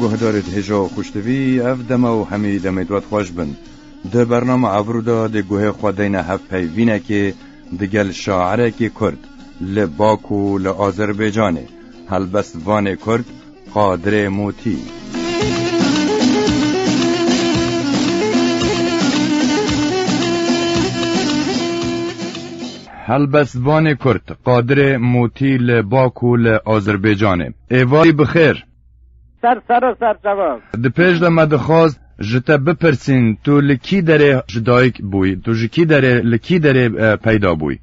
Guhdarê dihêja û xuştivî ev dema û hemî demê dwat xweş bin. Di bernama Ebru de dê guhê xwe deyne hev peyvînekê digel şaerekî Kurd li Baku li Azerbêcanê. Helbest vanê Kurd Qadirê Mûtî. Helbestvanê Kurd Qadirê Mûtî li Bakû li Azerbaycanê. Êvarî bi xêr. Ser serok ser cevab. Di pêş de me dixwast ji te bipirsîn tu li kî derê ji dayik bûyî? Tu ji kî derê li kî derê peyda bûyî?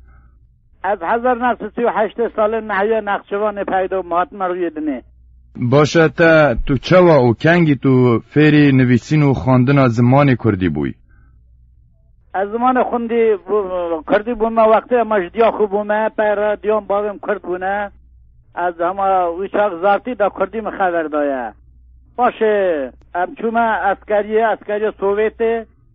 Ev hezar nexş û sî û heşt ê salên mehiyê nexşivanê peyda û hatine rûyê dinê. Baş e te, tu çawa û kengî tu fêrî nivîsîn û xwendina zimanê kurdî bûyî? Ez zimanê xwendî kurdî bûme wextê ma ji diya xwe bûme, pey re diyan bavên kurd bûne. Ez di hema wî çax zartî de kurdî min xever daye. Paşê em çûme eskeriyê, eskeriya Sowêtê.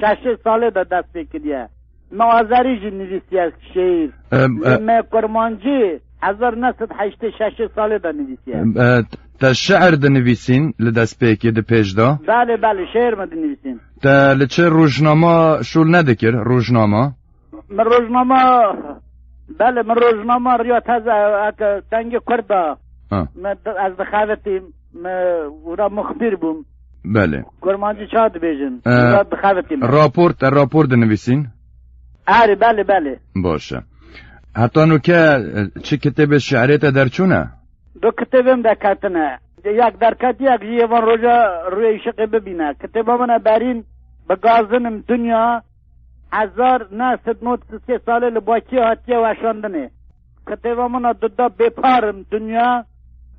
Şeşê salê de dest pê kiriye. Mi azerî jî nivîsiye şîîr. Lê me kurmancî hezar neh sed heştê şeşê salê de nivîsiye. Te şiîr dinivîsîn li destpêkê di pêş de? Belê belê şiîr me dinivîsîn. Te li çi rojnama şol nedikir rojnama? Min rojnama belê min rojnama riya teze eke dengê kurd de ez dixebitîm. Me wira muxbir bûm. Belê. Kurmancî ça dibêjin? Ee, Wira dixebitin. Rapor te rapor dinivîsîn? Erê belê belê. Baş e. Heta nu ke e, çi kitêbê şiirê te derçûne? Du kitêbim derketine. Yek derket yek jî yê van roja rûyê îşiqê bibîne. Kitêba min e berîn bi gazinim dinya hezar neh sed nod sisê salê li Bakiyê hatiye weşandinê. Kitêba min a du da bê par im dunya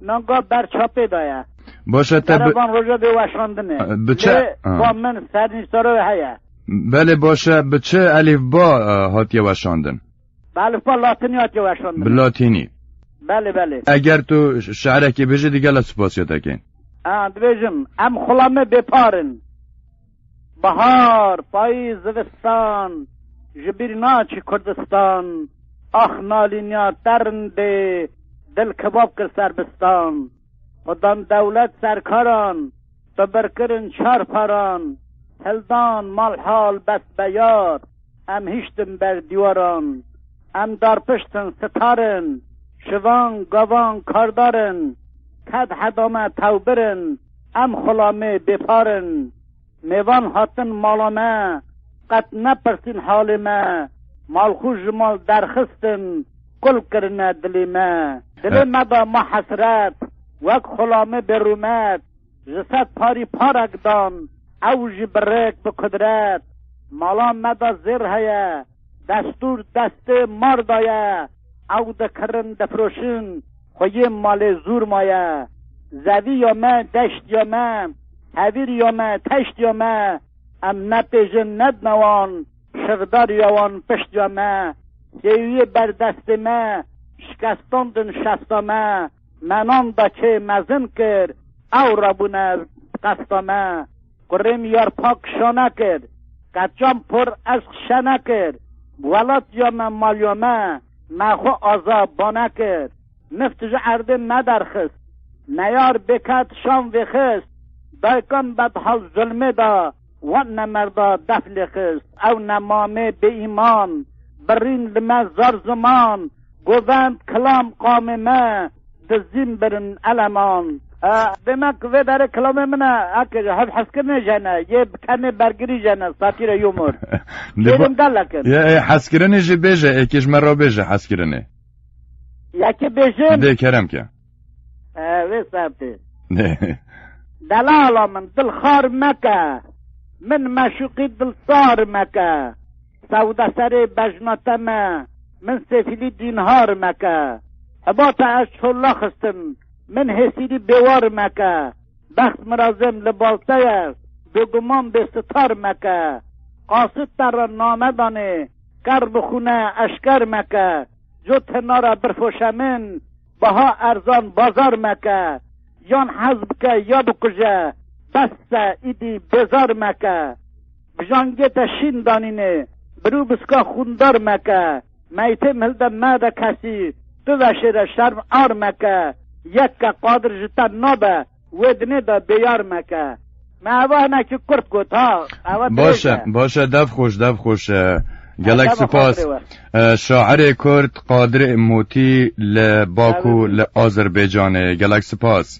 nanga ber çapê da ye. Baş e te bi... Derevan roja bê weşandinê. Bi çi? Ba min ser nîştaro heye. Belê baş e bi çi elîfba hatiye weşandin? Bi elîfba latinî hatiye weşandin. Bi latinî. Belê belê. Eger tu şirekê bijî digela sipasiyê te kên. Ha dibêjim em xula me bê par in. Bahar, payîz, zivistan ji bîr naçî Kurdistan Ax nalîniya te rindê dil kebab kir serbistan Xwedan dewlet serkaran bi bir kirin çar paran Hildan malhal bes be yar. Em hiştin ber dîwaran. Em darpiştin sitarin. Şivan, gavan, kardar in. Ted heda me tewbir in. Em xulamê bêpar in. Mêvan hatin mala me. Qet nepirsîn halê me. Malxû ji mal derxistin. Kul kirine dilê me. Dilê me da ma hesret. Wek xulamê bêrûmet. Ji sed parî parek dan, ew jî bi rêk, bi kudret. Mala me de zêr heye, destûr destê mar de ye, ew dikirin, difiroşin, xwe yê malê zûr maye. Zevî ya me, deşt ya me, hevîr ya me, teşt ya me, em nepêjin, nedine wan, şixdar ya wan pişt ya me. Sêwiyê berdestê me, şikestandin şesta me. Me nan da çê mezin kir, ewre bûne bi qesta me. Kurê min yar pak şane kir, qeçan por eşq şene kir. Bi welatiya me maliya me, me xwe aza bane kir. Mift ji erdê me derxist, neyar bêket şan vêxist. Daykan bedhal zulmê da, wan ne merda def lêxist. Ew ne mamê bêîman, birîn li me zar ziman. Govend kilam qamê me dizîn birin eleman. Bê me ku vê derê kilamê min e eke ji hevhezkirinê jene yê bi kenê bergirî jene satîre humor. Kêrên gelek in. Ye ê hezkirinê jî bêje êkê ji me re bêje hezkirinê. Yekê bêjin. Dê kerem ke. Wê sertê. Delala min dil xar meke. Min meşuqî dil sar meke. Sewda serê bejna te me. Min sêfîlî dînhar meke. Hiba te ez çolla xistin. Min hêsîlî bêwar meke. Bext mirazêm li bal te ye. Bêguman bê sitar meke. Qasit te re name danê. Kerr bi xûne eşker meke. Cot hinara birfoşe min. Baha erzan bazar meke. Yan hez bike ya bikuje. Bes e îdî bêzar meke. Bijan gê te şîn danînê. Birû biska xûndar meke. Meytêm hilde mede kesî. Tu veşêre şerm ar meke. Yek ke qadir ji te nabe. Wê dinê de bêyar meke. Me eva hinekî kurt got ha. Eva dirêj Baş e. e, baş e, dev xweş, dev xweş. e. Gelek Dema sipas. xatirê we. E, Şairê Kurd Qadirê Motî li Baku Tevî. li Azerbeycanê. Gelek sipas.